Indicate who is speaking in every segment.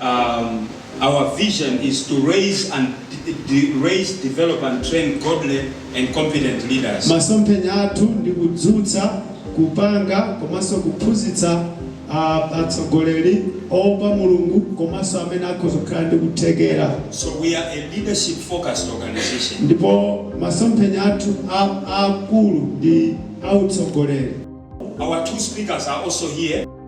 Speaker 1: Um, our vision is to raise and de- raise, develop, and train godly and competent leaders. masomphenya athu ndi kudzutsa
Speaker 2: kupanga komanso kuphunzitsa ah, atsogoleri oopa mulungu komanso amene akhoza kukhala ndi kuthekera So we
Speaker 1: are a leadership focused organization.
Speaker 2: ndipo masomphenya athu a- aakulu ndi autsogoleri Our
Speaker 1: two speakers are also here.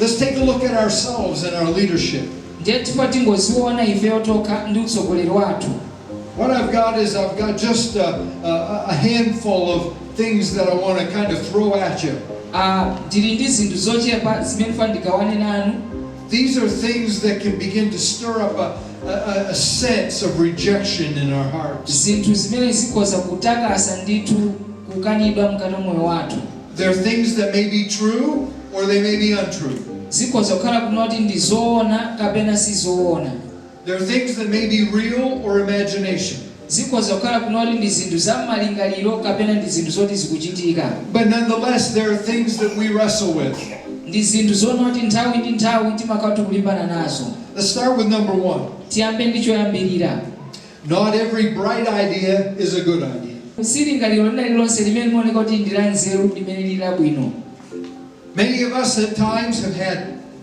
Speaker 3: Let's take a look at ourselves and our leadership. ndiye tiyeni tingodziona ifeyo tokha ndi utsogoleri wathu What I've got is I've got just a, a, a handful of things that I want to kind of throw at you. Ah, ndili ndi zinthu zochepa zimene ndifuna ndigawane nanu These are things that can begin to stir up a, a, a sense of rejection in our hearts. zinthu zimene zikhoza kutakasa ndithu kukanidwa mkati mwa moyo wathu There are things that may be true or they may be untrue. Zikhoza kukhala kuti ndi zoona kapena si zoona. There are things that may be real or imagination. Zikhoza kukhala kuti ndi zinthu za m'malingaliro kapena ndi zinthu zoti zikuchitika. But nonetheless, there are things that we wrestle with. Ndi zinthu zonoti nthawi ndi nthawi timakhala tikulimbana nazo. Let's start with number one. Tiyambe ndi choyambirira. Not every bright idea is a good idea. Si lingaliro lina lililonse limene limaoneka kuti ndi lanzeru limene lili labwino. Many of us at times have had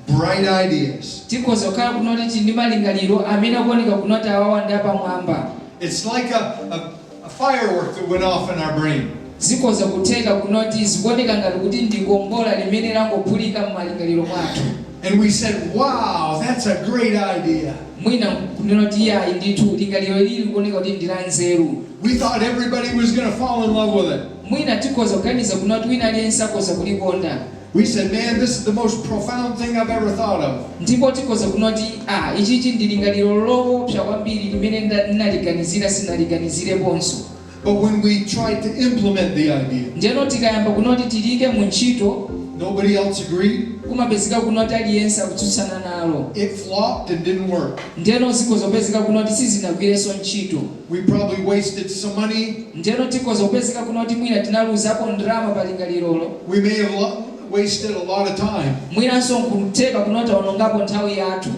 Speaker 3: bright ideas. Tikhoza kukhala kuno kuti tili ndi malingaliro amene akuoneka kunoti awawa ndi apamwamba. It's like a, a, a firework that went off in our brain. Zikhoza kutheka kunoti zikuoneka ngati kuti ndi kombola limene langophulika m'malingaliro mwathu. And we said, wow, that's a great idea. Mwina nkunena kuti, Iyayi ndithu, lingaliro ili likuoneka kuti ndi lanzeru. We thought everybody was gonna fall in love with it. Mwina tikhoza kuganiza kunena kuti wina aliyense akhoza kulikonda. We said, Man, this is the most profound thing I've ever thought of. Ndipo tikhoza kunena kuti, Ah, ichichi ndi lingaliro loopsa kwambiri limene nda, ndinaliganizira, sindinaliganizireponso. But when we tried to implement the idea, ndeno tikayamba kunena kuti tiliike mu ntchito, nobody else agreed, kumapezeka kunena kuti aliyense akutsutsana nalo, it flopped and didn't work. ndeno zikhoza kupezeka kuno kuti sizinagwirenso ntchito. We probably wasted some money, Ndeno tikhoza kupezeka kuno kuti mwina tinaluzako ndalama pa lingalirolo, we may have lo- wasted a lot of time. mwinanso nkutheka kunena taonongako nthawi yathu.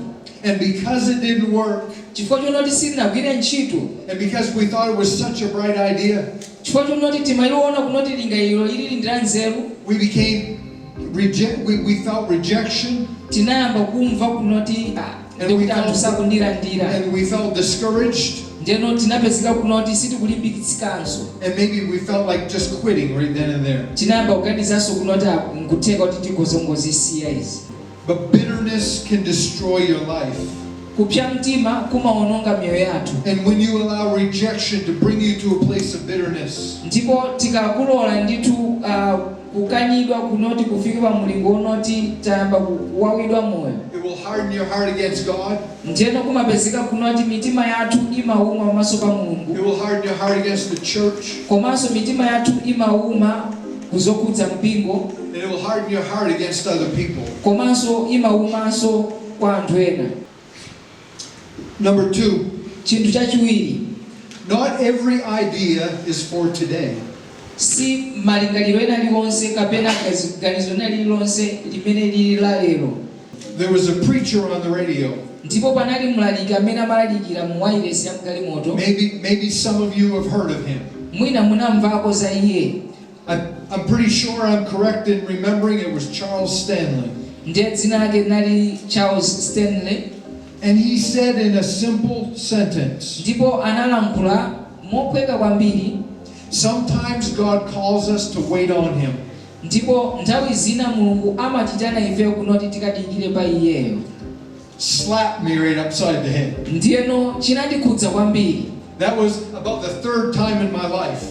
Speaker 3: And because it didn't work. Chifukwa chonoti silinagwire ntchito. And because we thought it was such a bright idea. Chifukwa chonoti timaliona kunoti lingaliro ili ndi la nzeru. We became reject we, we felt rejection. Tinayamba kumva kunoti ah, ndikuti anthu sakundilandira. And we felt discouraged. ndeno tinapezeka kuno kuti sitikulimbikitsikanso and maybe we felt like just quitting right then and there tinayamba kuganizanso kuno kuti ah, nkutheka kuti tikhoza kungozisiya izi But bitterness can destroy your life. Kupsa mtima kumaononga miyoyo yathu. And when you allow rejection to bring you to a place of bitterness. Ndipo tikalola ndithu uh, kukanidwa kunoti kufika pa mulingo unoti tayamba kuwawidwa moyo. It will harden your heart against God. Ndiyeno kumapezeka kunoti mitima yathu imauma pamaso pa Mulungu. It will harden your heart against the church. Komanso mitima yathu imauma ku zokhudza mpingo. And it will harden your heart against other people. Komanso imaumanso kwa anthu ena. Number two. Chinthu chachiwiri. Not every idea is for today. Si malingaliro ena aliwonse kapena ganizo lina lililonse limene lili la lero. There was a preacher on the radio. Ndipo panali mlaliki amene amalalikira mu wailesi ya mgalimoto. Maybe maybe some of you have heard of him. Mwina munamvako za iye. I, I'm pretty sure I'm correct in remembering it was Charles Stanley. Ndiye dzina lake linali Charles Stanley. And he said in a simple sentence. Ndipo analankhula mophweka kwambiri. Sometimes God calls us to wait on him. Ndipo nthawi zina Mulungu amatitana ifeyo kunoti tikadikire pa Iyeyo. slapped me right upside the head. Ndiyeno chinandikhudza kwambiri. That was about the third time in my life.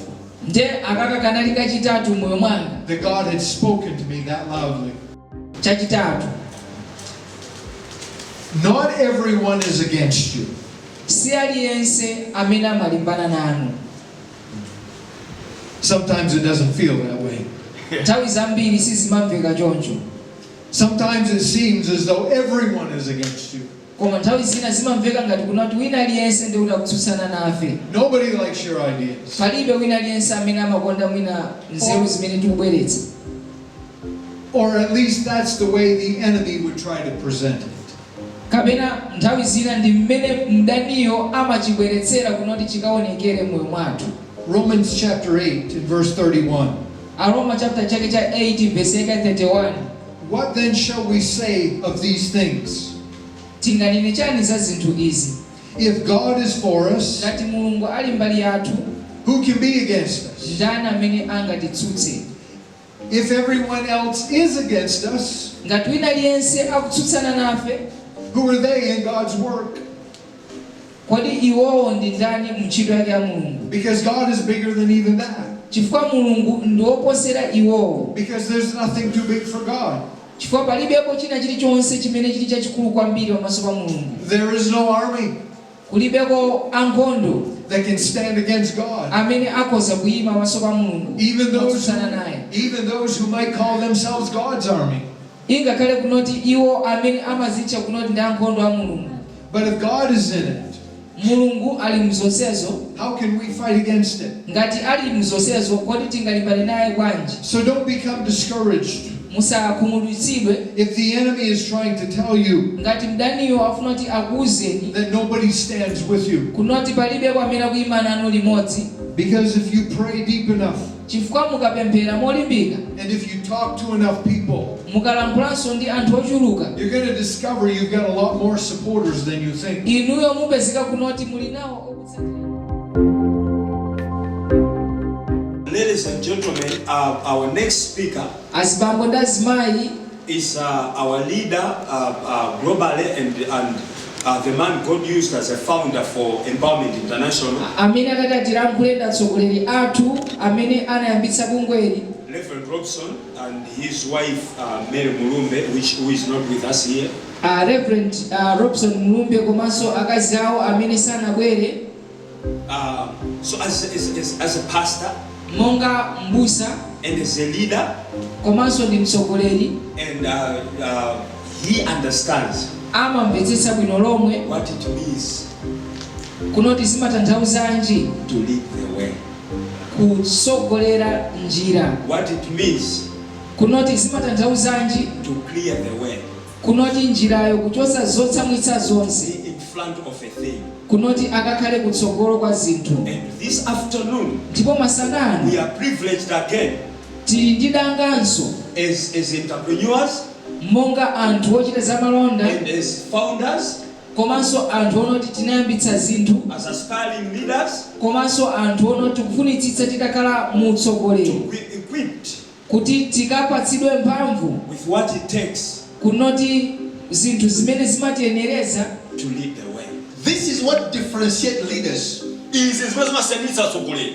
Speaker 3: Ndiye
Speaker 4: akaka kanali kachitatu m'moyo mwanga. That God had
Speaker 3: spoken to me that loudly. Chachitatu. Not everyone is against you. Si
Speaker 4: aliyense amene amalimbana nanu.
Speaker 3: Sometimes it doesn't feel that way. nthawi
Speaker 4: zambiri sizimamveka choncho Sometimes
Speaker 3: it seems as though everyone is against you. koma nthawi zina
Speaker 4: zimamveka ngati kunoti wina aliyense ndi kuti akutsutsana nafe Nobody likes
Speaker 3: your ideas. palibe wina
Speaker 4: aliyense amene amakonda mwina nzeru zimene tikubweretsa
Speaker 3: Or at least that's the way the enemy would try to present it. Kapena
Speaker 4: nthawi zina ndi mmene mdaniyo amachibweretsera kunoti chikaonekere m'moyo mwathu. Romans chapter
Speaker 3: 8 verse 31. Aroma chapter
Speaker 4: chake cha 8 verse yake ya 31. What then
Speaker 3: shall we say of these things? Tinganene
Speaker 4: chani za zinthu izi? If God
Speaker 3: is for us. Ngati Mulungu ali
Speaker 4: mbali yathu. Who can be
Speaker 3: against us? Ndani amene
Speaker 4: angatitsutse? If
Speaker 3: everyone else is against us, ngati wina aliyense
Speaker 4: akutsutsana nafe, who are they
Speaker 3: in God's work?
Speaker 4: Kodi iwowo ndi ndani mu ntchito yake ya Mulungu? Because God is bigger
Speaker 3: than even that. Chifukwa Mulungu
Speaker 4: ndi woposera iwowo. Because there's nothing
Speaker 3: too big for God. Chifukwa palibepo
Speaker 4: china chilichonse chimene chili chachikulu kwambiri pamaso pa Mulungu. There is no army. Kulibeko ankhondo. that can
Speaker 3: stand against God. amene akhoza
Speaker 4: kuima pamaso pa Mulungu Even those, motsutsana naye. even those who might
Speaker 3: call themselves God's army. Ingakhale kunoti
Speaker 4: iwo amene amazitcha kunoti ndi ankhondo a Mulungu. But if God
Speaker 3: is in it, Mulungu
Speaker 4: ali mzonsezo, how can we fight
Speaker 3: against it? ngati ali mzonsezo,
Speaker 4: kodi tingalimbane naye bwanji? So don't become
Speaker 3: discouraged.
Speaker 4: musakhumudwitsidwe. If
Speaker 3: the enemy is trying to tell you. ngati
Speaker 4: mdaniyo afuna kuti akuuzeni. that nobody stands
Speaker 3: with you. kunoti palibeko amene
Speaker 4: akuima nanu limodzi. Because if you
Speaker 3: pray deep enough. chifukwa
Speaker 4: mukapemphera molimbika. and if you
Speaker 3: talk to enough people. mukalankhulanso
Speaker 4: ndi anthu ochuluka. you're going to discover
Speaker 3: you've got a lot more supporters than you think. inuyo mupezeka
Speaker 4: kunoti muli nawo.
Speaker 1: Ladies and gentlemen, uh, our next speaker azibambo ndi
Speaker 4: azimayi is uh,
Speaker 1: our leader uh, uh, globally and, and uh, the man God used as a founder for Empowerment International, amene akati
Speaker 4: atilankhule ndi atsogoleri athu amene anayambitsa bungweli Reverend Robson.
Speaker 1: and his wife Mary Mulumbe which who is not with us here. A Rev
Speaker 4: Robson Mulumbe komanso akazi awo amene sanabwere. Uh,
Speaker 1: so as, as, as, as a pastor, monga
Speaker 4: mbusa and as a leader,
Speaker 1: komanso ndi
Speaker 4: mtsogoleri and uh,
Speaker 1: uh, he understands amamvetsetsa
Speaker 4: bwino lomwe what it means kunoti zimatanthauzanji to lead the
Speaker 1: way. Kutsogolera
Speaker 4: njira. what it means.
Speaker 1: kunoti
Speaker 4: zimatanthauzanji? to clear the
Speaker 1: way. kunoti njirayo
Speaker 4: kuchotsa zotsamwitsa zonse. be in front of
Speaker 1: a thing. kunoti akakhale
Speaker 4: kutsogolo kwa zinthu. and this afternoon.
Speaker 1: ndipo masana
Speaker 4: ano. we are privileged
Speaker 1: again. tili ndi
Speaker 4: danganso. as as
Speaker 1: entrepreneurs. monga
Speaker 4: anthu ochita zamalonda. and as founders. komanso anthu onoti tinayambitsa zinthu as
Speaker 1: aspiring leaders komanso
Speaker 4: anthu onoti tikufunitsitsa titakhala mu utsogoleri to be equipped
Speaker 1: kuti
Speaker 4: tikapatsidwe mphamvu with what it
Speaker 1: takes
Speaker 4: kunoti zinthu zimene zimatiyenereza to lead the
Speaker 1: way. This is what
Speaker 5: differentiate leaders. Izi n'zimene
Speaker 6: zimasiyanitsa atsogoleri.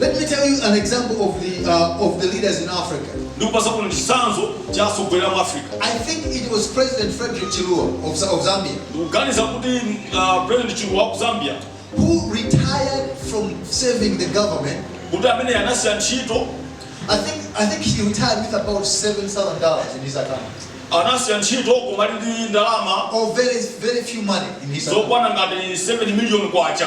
Speaker 5: Let me tell you an example of the uh, of the leaders in Africa. ndikupatsaninso
Speaker 6: chitsanzo cha atsogoleri a mu Africa I think it was
Speaker 5: President Frederick Chiluba of, Z- of Zambia ndikuganiza kuti
Speaker 6: uh, President Chiluba wa ku Zambia who retired
Speaker 5: from serving the government. kuti amene
Speaker 6: anasiya ntchito I
Speaker 5: think I think he retired with about seven thousand dollars in his account, anasiya ntchito
Speaker 6: koma ali ndi ndalama or very very
Speaker 5: few money in his account. zokwana ngati 7
Speaker 6: million kwacha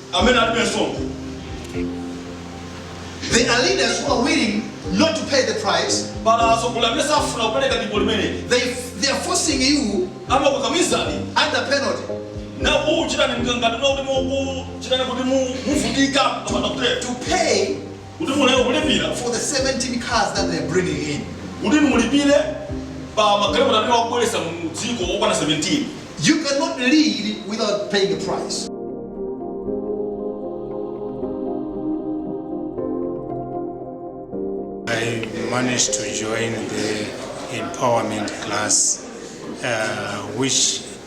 Speaker 5: amene alibe msonkho. There are leaders who are willing not to pay the price. Pali atsogoleri amene
Speaker 6: safuna kupereka dipo limeneli. They, they are
Speaker 5: forcing you
Speaker 6: amakukamizani under
Speaker 5: penalty na
Speaker 6: kuchitani ngati kuti mukuchitani kuti muvutika kapena kuti to pay
Speaker 5: kuti
Speaker 6: mukathe kulipira. for the
Speaker 5: 17 cars that they're bringing in. kuti
Speaker 6: mulipire pa magalimoto amene akubweretsa mu dziko okwana 17. You cannot
Speaker 5: lead without paying the price.
Speaker 7: I managed to join the empowerment class, uh, which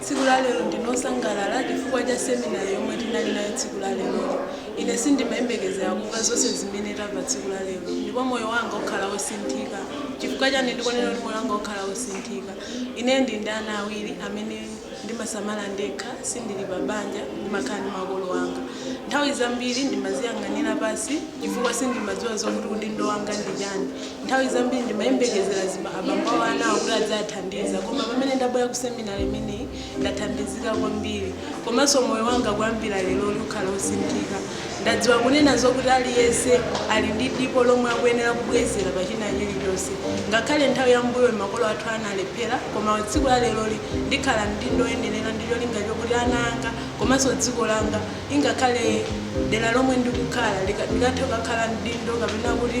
Speaker 7: Tsiku la lero
Speaker 8: ndine wosangalala chifukwa cha seminar yomwe tinali nayo tsiku la lero. Ine sindimayembekezera kumva zonse zimene tamva tsiku la lero. Ndipo moyo wanga ukhala wosinthika. Chifukwa chani ndikunena kuti moyo wanga ukhala osinthika? Ine ndili ndi ana awiri amene ndimasamala ndekha, sindili pa banja, ndimakhala ndi makolo anga. Nthawi zambiri ndimaziyang'anira pansi chifukwa sindimadziwa zokuti udindo wanga ndi chani. Nthawi zambiri ndimayembekezera abambo a anawo kuti aziwathandiza, koma pamene ndabwera ku seminar imeneyi ndathandizika kwambiri. Komanso moyo wanga kuyambira leroli ukhala wosinthika. Ndadziwa kunena zokuti aliyense ali ndi dipo lomwe akuyenera kubwezera pa china chilichonse. Ngakhale nthawi ya m'mbuyoyi makolo athu analephera, koma tsiku la leroli ndikhala mdindo woyenera ndi cholinga chokuti ana anga komanso dziko langa, ingakhale dera lomwe ndikukhala, likathe kukhala mdindo kapena kuti.